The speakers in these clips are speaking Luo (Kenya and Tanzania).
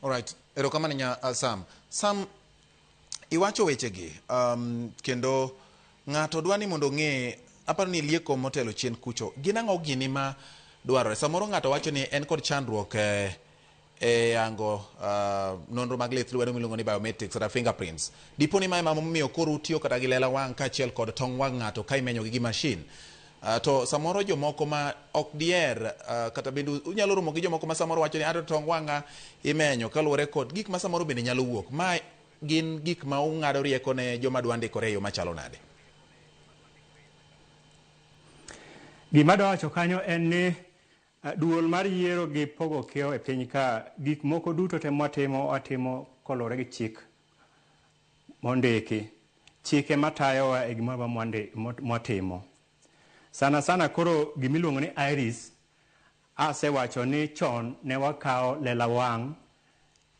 All right. Erokamano nya uh, Sam. Sam iwacho wechegi um, kendo ng'ato dwa ni mondo ong'e aparo ni lieko motelo chien kucho gin ang'o gini ma dwarore samoro ng'ato wacho ni en kod chandruok eh, e yango uh, nonro mag lith lwedo miluongo ni biometrics kata fingerprints dipo ni ma ema momiyo koro utiyo kata gi lela wang' kaachiel kod tong wang' ng'ato ka imenyogi gi mashin Uh, to samoro jomoko ma ok dier uh, kata bende unyalo romo gi jomoko ma samoro wacho ni ato tong wanga imenyo kaluwore kod gik ma samoro bende nyalo wuok ma gin gik ma ung'ado rieko ne joma dwa ndikore e yo machalo nade gima dwa wacho kanyo en ni uh, duol mar yiero gi pogo kiewo e piny ka gik moko duto te mwatimo watimo kolore gi chik mondiki. Chike matayowa e gimoro mwandi- mo- mwatimo. Sana sana koro gimiluongo ni iris, asewacho ni chon ne wakawo lela wang'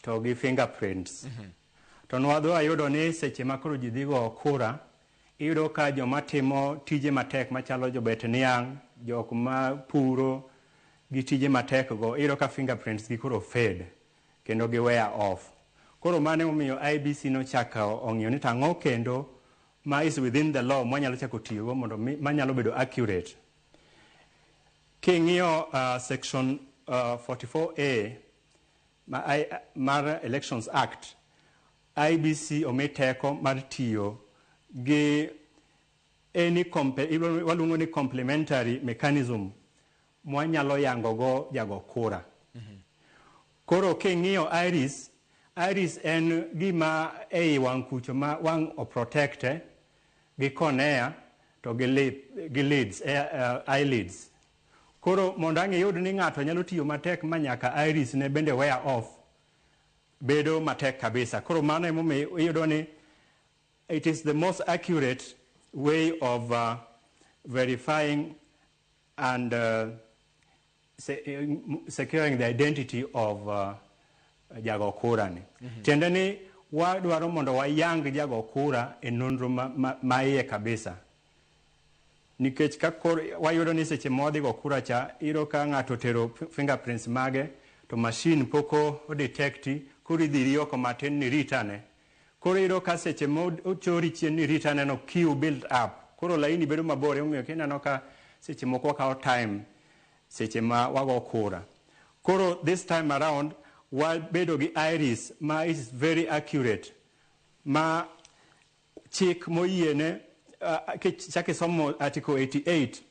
to gi fingerprints. To nwadhi wayudo ni seche ma koro ji dhi go kura, iyudo ka joma timo tije matek machalo jobet niang', jok ma puro gi tije matek go, iyudo ka fingerprints gi koro fade. kendo gi weya off koro mane emomiyo IEBC nochako ong'iyo ni to ang'o kendo ma is within the law mwanyalo chako tiyogo mondo manyalo bedo accurate king'iyo uh, section uh, 44A ma, I, mar Elections Act IBC omi teko mar tiyo gi any waluongo ni complementary mechanism mwanyalo yango go jago kura. Koro king'iyo iris, iris en gima ei wang' kucho ma wang' o protect e gi cornea to gi lip, gi lids, eh, eh, eyelids. Koro mondo ang' iyud ni ng'ato nyalo tiyo matek ma nyaka iris ne bende wear off, bedo matek kabisa. Koro mano emomiyo iyudo ni it is the most accurate way of uh, verifying and uh, se, uh, securing the identity of uh, jago kura ni mm -hmm. tiende ni wadwaro mondo wayang jago kura e nonro ma, ma, ma iye kabisa nikech ka kor wayudo ni seche ma wadhi go kura cha iro ka ng'ato tero fingerprints mage to machine poko odetecti koro idhi ri oko matin ni ritane Koro iyudo ka seche ma ochori chien ni rit aneno queue build up. Koro laini bedo mabor emomiyo kineno ka seche moko wakawo time seche ma wago kura. Koro this time around wabedo gi iris ma is very accurate ma chik moyiene uh, kichak isomo article 88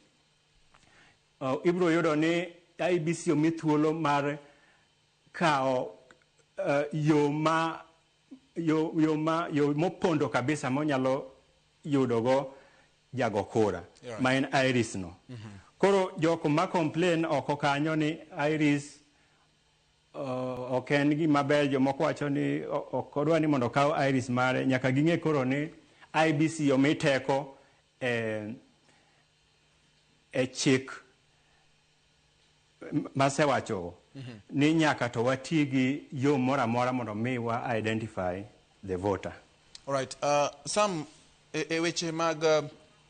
uh, ibiro yudo ni IBC omi thuolo mar kawo uh, yo ma yo, yo, ma, yo mopondo kabisa monyalo yudogo jago kura yeah. ma en iris no mm -hmm. koro jok ma complain oko kanyo ni iris uh, ok en gima ber jomoko wacho ni ok odwa ni mondo okaw iris mare nyaka ging'e koro ni ibc omi teko e, e chik masewacho mm -hmm. ni nyaka to wati gi yo moro amora mondo mi wa identify the voter. Alright, uh, Sam, e, e weche mag uh,